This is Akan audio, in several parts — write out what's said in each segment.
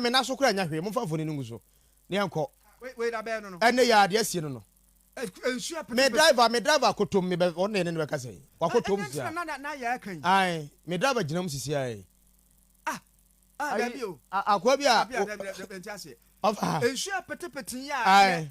me nan so kora nya hwee momfa mfoni no ngu so na yɛnkɔ ɛne yɛ adeɛ asie no no eh, me driver me driver akotom me bɛ ɔne ne ne bɛka sɛ wakotom sia ae me driver gyina mu sisi ae ah, ah, akoa bi a ɔfa nsuo petepete yi a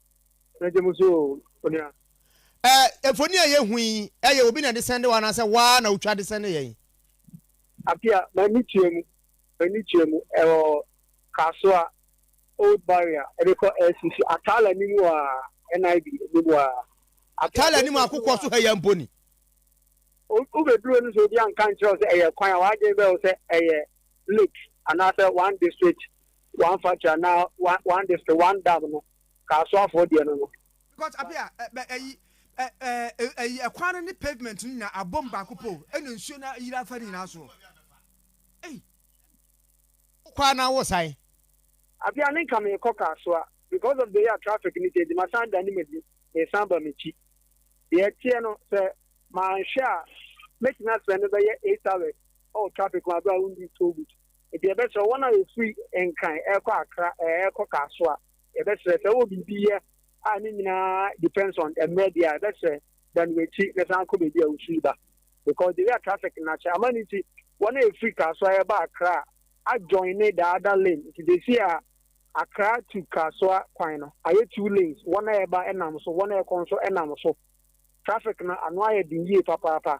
Anigye mu so o, onua. Eh, mfoni a yɛhu yi, ɛyɛ obi na ɛde sɛnde wo anaasɛ wo ara na wotwa de sɛnde yɛn? Apia, m'ani tua mu, m'ani tua mu, ɛwɔ Kasoa, Old Barrier, ɛde kɔ LCC, Ataale anim hɔ a, NIB anim hɔ a. Ataale anim a kokoɔ so ha yi mpo ni. Wobɛduru no sɛ obi anka nkyerɛ wo sɛ ɛyɛ kwan a, w'adwene bɛyɛ wo sɛ ɛyɛ lake anaasɛ one district one factory anaa one one district one dam no ka asoafoɔ deɛ no no. Because ape a ɛ bɛ ɛyi ɛ ɛ ɛyi ɛkwan no ne pavement no nyinaa abom baako pɛ o ɛna nsuo no ayiri afa ne nyinaa soɔ ei. Wokɔ a na wosan. Ape a ne nka meekɔ Kasoa because of the way a traffic no teɛ nti masan adane m'ani meresan aba m'akyi. Deɛ ɛteɛ no sɛ manhwɛ a mɛtumi aspɛndo bɛyɛ eight hours wɔ traffic mu berɛ a wonnii toll booth. Enti yɛbɛsrɛ wɔn a wɔfiri Nkran rekɔ Accra rekɔ Kasoa, yɛbɛsrɛ sɛ wowɔ biribi yɛ a ne nyinaa depends on mmerɛ deɛ a, yɛbɛsrɛ dan w'akyi na san kɔ baabi a wofiri ba because the way a traffic no akyɛ ama no nti wɔn a ɛfiri Kasoa reba Accra a joine the other lane nti they see a Accra to Kasoa kwan no ayɛ two lanes, wɔn a ɛreba nam so, wɔn a ɛrekɔ nso nam so. Traffic no ano ayɛ den yie papaapa.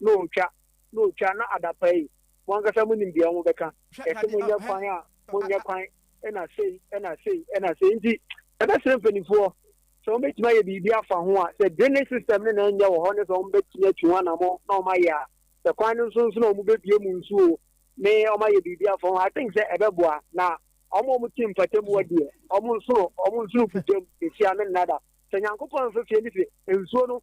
na otwa, na otwa, na adapa yi, mo ankasa mo nim deɛ wɔn bɛka, yɛse mo nyɛ kwan a, mo nyɛ kwan, ɛna sei, ɛna sei, ɛna sei, nti yɛbɛ srɛ mpaninfoɔ sɛ wɔn bɛtumi ayɛ biribi afa ho a, sɛ draining system no na ɛnyɛ wɔ hɔ ne sɛ wɔn bɛtumi atu ho anamɔ na wɔn ayɛ a, sɛ kwan no nso nso na wɔn bɛbue mu nso o, ne wɔn ayɛ biribi afa ho, I think sɛ ɛbɛboa, na wɔn a wɔn te mpatamua deɛ, wɔn nsoro, wɔn nsoro kutam, ehyia no nnada, sɛ Nyankopɔn nso se ne se nsuo no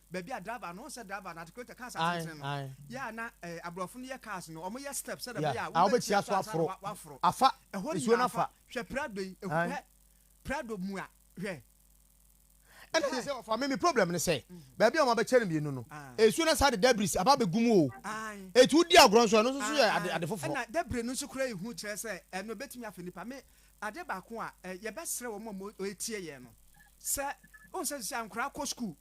baabi a driver no, wohu sɛ driver no articulator cars Ae, atentene no, ae. yɛ a na eh, aborɔfo no yɛ cars no, wɔyɛ step sɛdeɛ Yeah, ɛbɛyɛ a a wobɛtia wobɛtia so so ansa na aforo. wa- woaforo. Afa Ɛhɔ nsuo no nyinaa fa. afa. Hwɛ Prado yi, ehu- Ae. hwɛ Prado mua, hwɛ. Ɛna Hwɛ. sɛ sɛ ɔfa me me problem ne sɛ baabi a wɔabɛkyɛ no mmienu no Ah. nsuo no saa de debris aba abɛgu mu o Ae. ɛti wodi agorɔ nso ɛno nso so yɛ ade, ade foforɔ ɛna debris no nso kora ehu kyerɛ sɛ ɛno ebetumi afa nipa me ade baako a ɛ, yɛbɛsrɛ wɔn a wɔn- wɔretie yɛn no sɛ wɔn sɛ sɛ nkora kɔ sukuu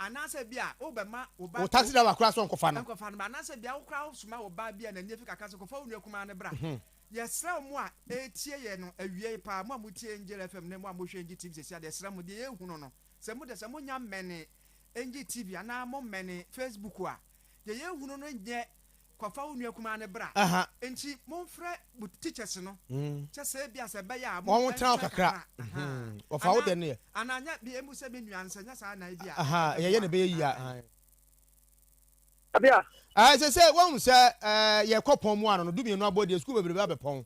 Anaasɛ ebia wobɛma wo ba. Wo taxi driver koraa sɛ ɔnkɔfa no. Nkɔfa no mmra. Anaasɛ ebia wo koraa wosoma wo ba bi a n'ani afi kakra sɛ kɔfa wo nua kumaa no bra. Yɛsrɛ wo mo a ɛretie yɛn no awiei paa, mo a motie Angel FM ne mo a mohwɛ Engye TV seesei a, yɛsrɛ mo, deɛ yɛrehunu no, sɛ mo deɛ sɛ monya mmɛnee Engye TV anaa mommɛnee Facebook a, deɛ yɛrehunu no nyɛ Kɔ fa wo nua kumaa no bra. Nti mo nfrɛ mo teachers no kyɛ sɛ ebia sɛ ɛbɛyɛ a mo nkyɛn kakra. Anaa anaa nyɛ bi emu sɛ me nua no sɛ nyɛ saa na ebia. Yɛ yɛ na ɛbɛyɛ yie a. Abia. Ɛɛ sɛ sɛ wɔn hu sɛ ɛɛ yɛ kɔ pɔn mu ano no du mmienu abɔ deɛ sukuu bebrebe abɛ pɔn.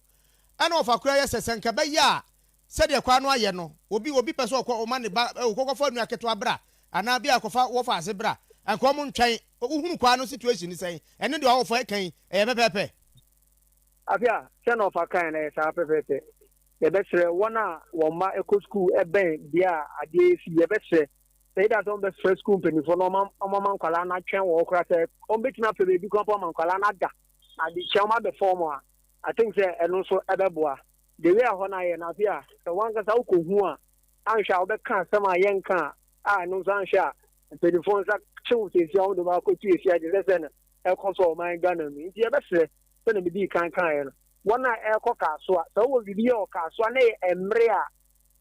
Ɛna ɔfa kura yɛ sɛ sɛ nka ɛbɛyɛ a Sɛdeɛ kwan no ayɛ no, obi obi pɛ sɛ ɔkɔ, ɔma ne ba, o, kɔkɔfa nua ketewa bra, anaa bia kɔfa wɔfa ase bra, anka ɔmo ntwɛn. Wohunu kwan no situation no sɛn? Ɛne deɛ ɔwɔfa ɛka yi, ɛyɛ pɛpɛɛpɛ? Afia, Sɛ na ɔfa kae no, ɛyɛ saa pɛpɛɛpɛ. Yɛbɛsrɛ wɔn a wɔn mma kɔ sukuu bɛn bea a adeɛ yɛ fi, yɛbɛsrɛ sɛ either sɛ wɔbɛfrɛ sukuu mpanimfoɔ na wɔma wɔma nkwadaa no atwɛn wɔ hɔ koraa, sɛ wɔbɛtumi apɛ baabi koraa mpo ama nkwadaa no ada adekyɛ wɔabɛfa wɔn a, I think sɛ ɛno nso ɛbɛboa. The way a hɔ no ayɛ no, afei a sɛ w'ankasa wokɔhu a, anhwɛ a wobɛka asɛm a ɛyɛ nka a, a ɛno nso anhwɛ a mpanimfoɔ nsa kyew seesei a wɔde wɔn akɔtu asia te sɛ sɛ no ɛkɔ so wɔ ɔman Ghana mu. Nti yɛbɛsrɛ sɛdeɛ medii kan kaeɛ no, wɔn a ɛrekɔ Kasoa, sɛ wowɔ biribi yɛ wɔ Kasoa na ɛyɛ mmere a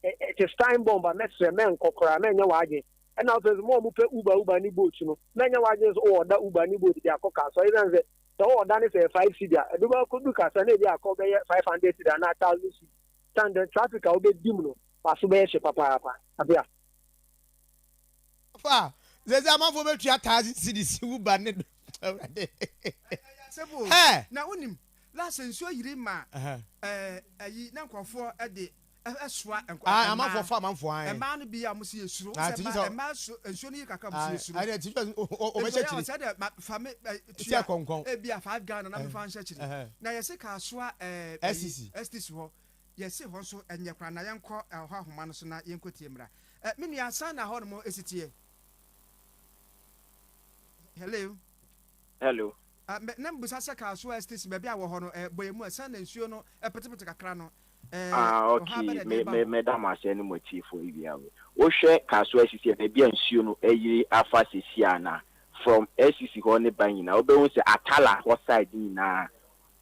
it is time bomb a, mɛsrɛ mɛnkɔ koraa, mɛnyɛ w'adwene. Ɛna afei nso mo a mopɛ Uber Uber ne boat no, mɛnyɛ w'adwene nso wɔ ɔda Uber ne boat de akɔ Kasoa, ɛsiane sɛ Sɛ ɔwɔ ɔda no sɛ five cedi a, ɛdodow a kodu kasa no ebi akɔ bɛyɛ five hundred cedi anaa thousand cedi. San dɛn traffic a wobedi mu no, w'aso bɛyɛ hye papaapa. Abia. Ɔfa, sɛsɛ amanfoɔ bɛtua thousand cedis si wo ba ne do awurade hɛ. Na wonim last nsuo yiri maa ɛyi na nkurɔfoɔ de Ae, amanfoɔ fa amanfoɔ ae. Ae, ti sɛ ɛdeɛ ti sɛ ɔbɛhyɛ kyiri ti sɛ kɔnkɔn. Ɛsisi. Ɛsisi hɔ yɛsi hɔ nso ɛnyɛ koraa na yɛnkɔ ɛhɔ ahoma no so na yɛnkɔ tie mmra ɛ me nua san na hɔ nom esitiɛ. Hello. Hello. Ɛ, mɛ, na mebisa sɛ kaa so a ɛsete si baabi a wɔ hɔ no, ɛ, bɔ yɛ mu a, sɛn na nsuo no pete-pete kakra no, ɛ, Ah, ok, ɔhaw bɛ na ɛde me, reba me, hɔ? mɛda mo ase ɛne mo atiefo awia wei. Wo hwɛ kaa so a ɛsisi yɛ baabi a nsuo no ayiri afa sesi a na, from ɛsisi hɔ ne ba nyinaa, wo bɛhu sɛ Attala hɔ side no nyinaa,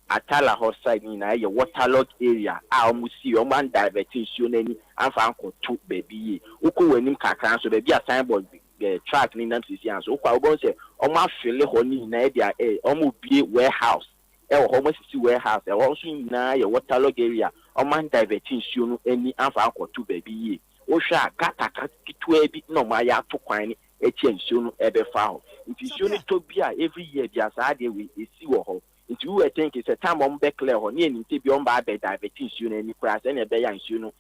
Attala hɔ side no nyinaa yɛ waterlogged area a wɔn si, wɔn an divert nsuo no ani amfa ankɔ to baabi yie. Wo kɔ wɔ anim kakra nso baabi a signboard eh, truck ne nam sisi anso wokɔ a wobɛhu sɛ wɔn afele hɔ ne nyinaa ɛde eh, wɔn obie warehouse ɛwɔ hɔ wɔn asisi warehouse ɛhɔ nso nyinaa yɛ waterlog area wɔn an divert nsuo no ani anfa ankɔto baabi yie wohwɛ a gutter ka ketewa bi na wɔn ayɛ ato kwan no akyi a nsuo no ɛbɛfa hɔ nti nsuo no tɔ bi a every year bia saa adeɛ wei ɛsi wɔ hɔ nti wowɛ tenke sɛ time wɔn bɛ clear hɔ ne ɛnim sɛ bia wɔn ba abɛ divert nsuo no ani koraa sɛnea ɛbɛyɛ a nsuo no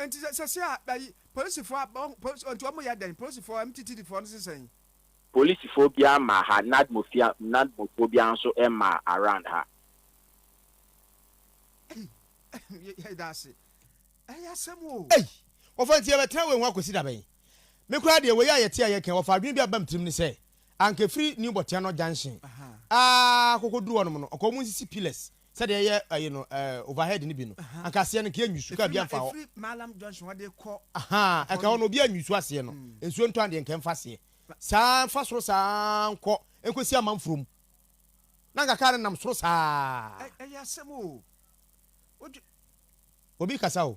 Nti sɛ sɛsi a ayi polisifo a bɔn polis nti ɔmo yɛ dɛn polisifo a MTTD foɔ no sesɛn. Polisifo biaa mmaa ha nadmo fia nadmo foɔ biaa nso mmaa around ha. Ei yɛ da ase ɛyɛ asɛm o. Ei wɔfa nti yɛbɛtena wei ho akɔsi da bɛn? Me koraa deɛ wei a yɛte a yɛka yi wɔfa adwene bi a ɛba me tirim ne sɛ anka ɛfiri New Botiano junction aa kɔkɔduru hɔnom no ɔka ɔmo nsisi pillars Sɛdeɛ yɛ ayi no ɛɛ overhead no bi no anka aseɛ no nka yɛ nwisu kaa bia nfa hɔ. Ahaa ɛka hɔ no obia nwisu aseɛ no nsuo ntɔ andeɛ nka nfa aseɛ saa nfa soro saa nkɔ nkosi amanforo mu na anka kaa no nam soro saa. Obi kasa o.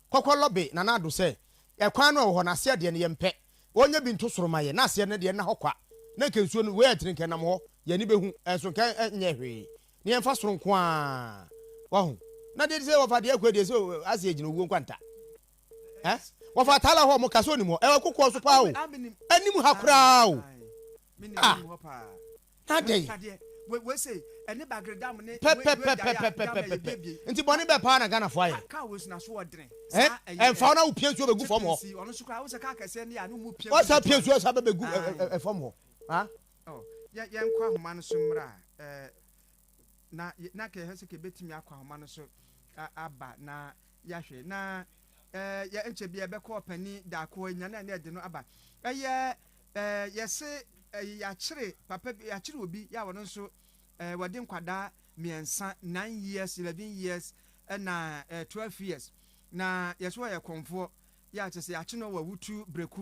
Kɔkɔ lɔbe Nana Addo sɛ, Ɛkwan no a ɛwɔ hɔ no, aseɛ deɛ no yɛmpɛ. Wɔnyɛ bi nto soro ma yɛn, na aseɛ no deɛ nna hɔ kwa. Na nka nsuo no, wei a ɛtene nka ɛnam hɔ, yɛn ani bɛhu, ɛnso nka ɛnyɛɛ hwee. Na yɛmfa soro nko ara. Wahu? Na deɛ ɛte sɛ wɔfa deɛ akua deɛ, sɛ aseɛ gyina owuo nkwanta. Ɛ? Wɔfa Tala hɔ, wɔka sɛ ɔnim hɔ. Ɛwɔ kokoɔ so pa ara o. Anim ha koraa o. Ah! Na dɛn? pɛpɛpɛpɛpɛpɛpɛ nti bɔne bɛɛ paa na ghanafoɔ ayɛ ɛmfa wo na wo pia nsuo bɛgu fam hɔ wasa pia nsuo sa bɛbɛgu fam hɔ yɛnkɔ ahoma no so mmra na na kɛhɛ sɛ kɛbɛtumi akɔ ahoma no so aba na yɛahwɛ na yɛnkyɛ bi yɛbɛkɔ ɔpani daako nyane a na ɛde no aba ɛyɛ Eh yɛse eh yakyere papa bi yakyere obi ya ɔno nso eh wɔde nkwadaa mmiɛnsa nine years eleven years ɛna eh twelve years na yɛse ɔyɛ kɔnfoɔ ya kyɛ sɛ yakye no wɔ awutu breku